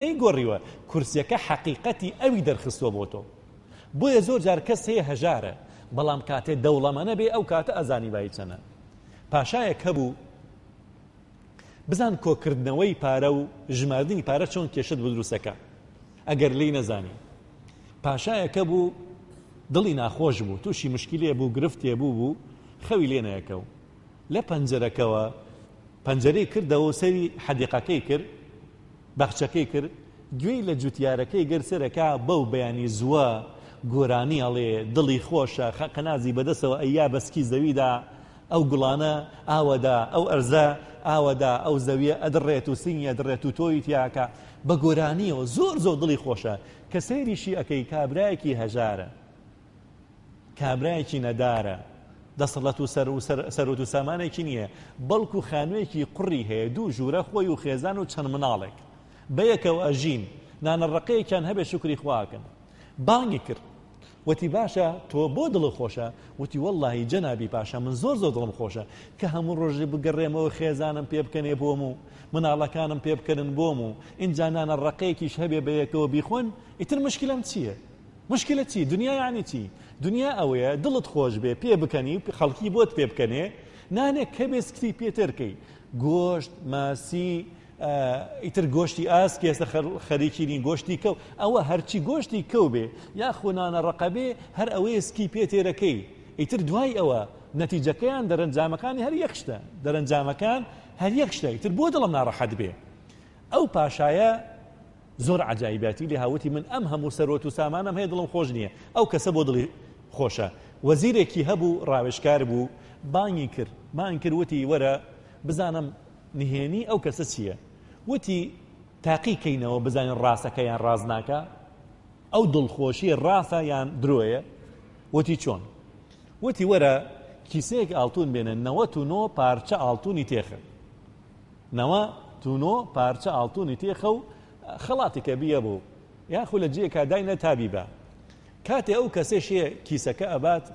نەیگۆریوە کورسیەکە حەقیقەتی ئەوی دەرخستوە بۆ تۆ بۆیە زۆر جار کەس هەیە هەژارە بەڵام کاتێ دەوڵەمەنە بێ ئەو کاتە ئەزانی بای چەنە پاشایەک هەبوو بزان کۆکردنەوەی پارە و ژماردنی پارە چۆن کێشت بە دروستەکە ئەگەر لی نەزانی پاشایەکە بوو دڵی ناخۆش بوو تووشی مشکلێ بوو گرفتێ بوو بوو خەوی لێنەیەکە و لە پەنجەرەکەوە پەنجەرەی کردەوە و سەیری حەدیقەکەی کرد، باخچەکەی کرد، گوێی لە جوتیارەکەی گرت سەرەکا بەو بەیانی زووە گۆرانی ئەڵێ، دڵی خۆشە، خەقەنازی بە دەستەوە ئەیا بە سکی زەویدا، ئەو گوڵانە ئاوەدا، ئەو ئەرزە ئاوەدا، ئەو زەویە ئەدڕێت و سنگی ئەدڕێت و تۆوی تیاکا، بە گۆرانییەوە زۆر زۆر دڵی خۆشە، کە سەیریشی ئەکەی کابرایەکی هەژارە. کابرایەکی نەدارە، دەسەڵەت و سەروەت و سامانێکی نییە، بەڵکو خانوویەکی قوڕی هەیە، دوو ژوورە خۆی و خێزان و چەند مناڵێک بەیەکەوە ئەژین، نانە ڕەقەیەکیان هەبێ شوکری خوا ئەکەن. بانگی کرد. وتی باشە تۆ بۆ دڵت خۆشە؟ وتی وەڵڵاهی جەنابی پاشا من زۆر زۆر دڵم خۆشە کە هەموو ڕۆژێ بگەڕێمەوە خێزانم پێ بکەنێ بۆم و مناڵەکانم پێ بکەن بۆم و ئینجا نانە ڕەقەیەکیش هەبێ بە یەکەوە بیخۆن ئیتر مشکلەم چییە؟ موشکیلە چی؟ دنیا یانی چی؟ دنیا ئەوەیە دڵت خۆش بێ پێ بکەنی و خەڵکی بۆت پێ بکەنێ، نانێک کەبێ سکتی پێتر کەی، گۆشت، ماسی، ئیتر گۆشتی ئاسک ئێستا خەریکی نین گۆشتی کەو ئەوە هەرچی گۆشتی کەو بێ یاخۆ نانە ڕەقە بێ هەر ئەوەیە سکی پێ تێرەکەی ئیتر دوای ئەوە نەتیجەکەیان دەرەنجامەکانی هەر یەک شتە دەرەنجامەکان هەر یەک شتە ئیتر بۆ دڵم ناڕەحەت بێ ئەو پاشایە زۆر عەجایباتی لێ ها وتی من ئەم هەموو سەروەت و سامانەم هەیە دڵم خۆش نییە ئەو کەسە بۆ دڵی خۆشە وەزیرێکی هەبوو ڕاوێژکار بوو بانگی کرد بانگ کرد وتی وەرە بزانم نهێنی ئەو کەسە چییە وتی تاقی کەینەوە بزانین ڕاستەکە یان ڕاست ناکە ئەو دڵخۆشی ڕاستە یان درۆیە وتی چۆن وتی وەرە کیسەیەک ئاڵتون بێنە نەوەت و نۆ پارچە ئاڵتونی تێخن نوا تونۆ پارچە ئاڵتونی تێخە و خەڵاتیکە بیە بۆ یاخو لە جیەکا داینە تا بیبا. کاتێ ئەو کەسێ شێ کیسەکە ئەبات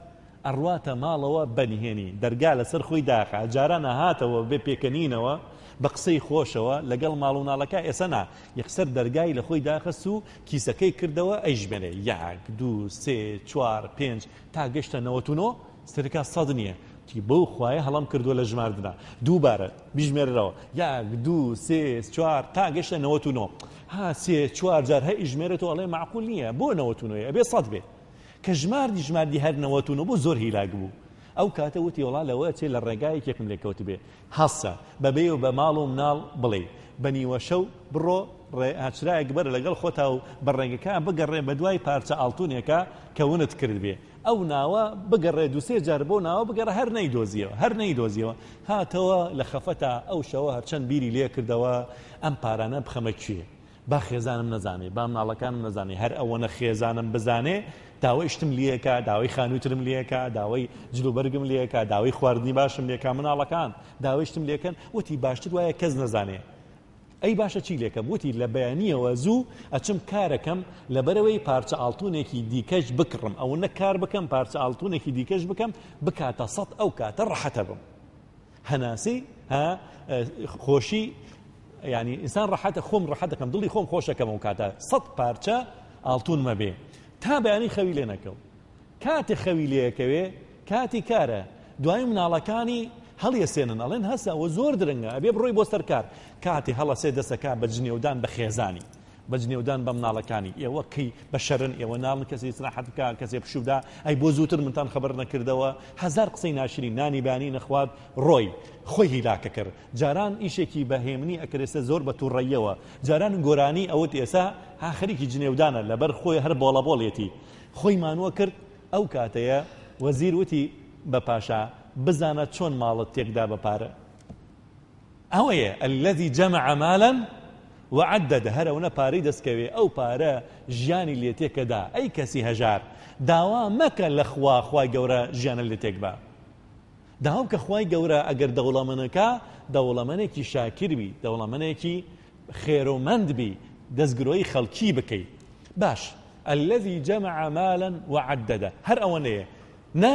ئەڕواتە ماڵەوە بە نهێنی دەرگا لەسەر خۆی داخا جاران ئەهاتەوە بێ پێکەنینەوە بە قسەی خۆشەوە لەگەڵ ماڵ و ناڵەکە ئێسە نا یەکسەر دەرگای لە خۆی داخست و کیسەکەی کردەوە ئەیژمێرێ یەک دوو سێ چوار پێنج تا گەشتە نەوەتونۆ سەرکا سەد نیە تی بەو خوایە هەڵەم کردوە لە ژماردنا دووبارە بیژمێرەوە یاک دوو سێ چوار تا گەشتە نەوەت و نۆ ها سێ چوار جار هە ئیژمێرێت و ئەڵێ معقول نییە بۆ نەوەت و نۆیە ئەبێ سەد بێ کە ژماردی ژماردی هەر نەوەت و نۆ بۆ زۆر هیلاک بوو ئەو کاتە وتی وڵا لەوە چێ لە ڕێگایەکێکم لێکەوت بێ هەسە بە بێ و بە ماڵ و مناڵ بڵێی بە نیوەشەو بڕۆ ڕێ ئاچرایەک بەرە لەگەڵ خۆتا و بە ڕێگەکە بگەڕێ بە دوای پارچە ئاڵتونێکە کە ونت کردبێ ئەو ناوە بگەڕێ دوسێ جار بۆ ناوە بگەڕێ هەر نەیدۆزیەوە هەر نەیدۆزیەوە هاتەوە لە خەفەتا ئەو شەوە هەرچەند بیری لێ کردەوە ئەم پارانە بخەمە کوێ با خێزانم نەزانێ، با مناڵەکانم نەزانێ، هەر ئەوەنە خێزانم بزانێ داوای شتم لێکا، داوای خانووی ترم لێکا، داوای جلوبەرگم لێکا، داوای خواردنی باشم لێکا، مناڵەکان داوای شتم لێکەن، وتی باشتر وایە کەس نەزانێ. ئەی باشە چی لێکەم؟ وتی لە بەیانییەوە زوو ئەچم کارەکەم، لەبەرئەوەی پارچە ئاڵتوونێکی دیکەش بکڕم، ئەوەنە کار بکەم پارچە ئاڵتوونێکی دیکەش بکەم بکاتە سەد ئەو کاتە ڕەحەتە بم. هەناسەی ها خۆشی ینی ئینسان ڕحەتە خۆم ڕحەتەکەم دڵی خۆم خۆشەکەم و کاتە سەد پارچە ئاڵتونمە بێ تا بەیانی خەوی لێ نەکەو کاتێ خەوی لەکەوێ کاتی کارە دوای مناڵەکانی هەڵیەسێنن ئەڵێن هەسەوە زۆر درنگە ئەبێ بڕۆی بۆ سەرکار کاتێ هەڵەسێ دەسەکە بە جنێودان بە خێزانی بە جنێودان بە مناڵەکانی، ئێوە کەی بەشەرن ئێوە ناڵن کەسێ ئیسراحەت بکا کەسێ پشوو بدا، ئەی بۆ زووتر منتان خەبەر نەکردەوە، هەزار قسەی ناشرین، نانی بانی نەخوارد ڕۆی خۆی هیلاکە کرد، جاران ئیشێکی بە هێمنی ئەکرد ئێستا زۆر بە توڕەییەوە، جاران گۆرانی ئەوت ئێستا ها خەریکی جنێودانە لەبەر خۆی هەر بۆڵە بۆڵیەتی خۆی مانووە کرد، ئەو کاتەیە وەزیر وتی بە پاشا، بزانە چۆن ماڵت تێکدا بە پارە. ئەوەیە الذی جمع مالا وعدده هەر ئەونە پارەی دەستکەوێ ئەو پارە ژیانی لێ تێکەدا ئەی کەسی هەژار داوا مەکە لە خوا خوای گەورە ژیانە لێ تێک بە داوا بکە خوای گەورە ئەگەر دەوڵەمەنەکە دەوڵەمەنێکی شاکر بی دەوڵەمەنێکی خێرۆمەند بی دەستگرۆی خەڵکی بکەی باش الذي جمع مالا وعدده هەر ئەوەنەیە نا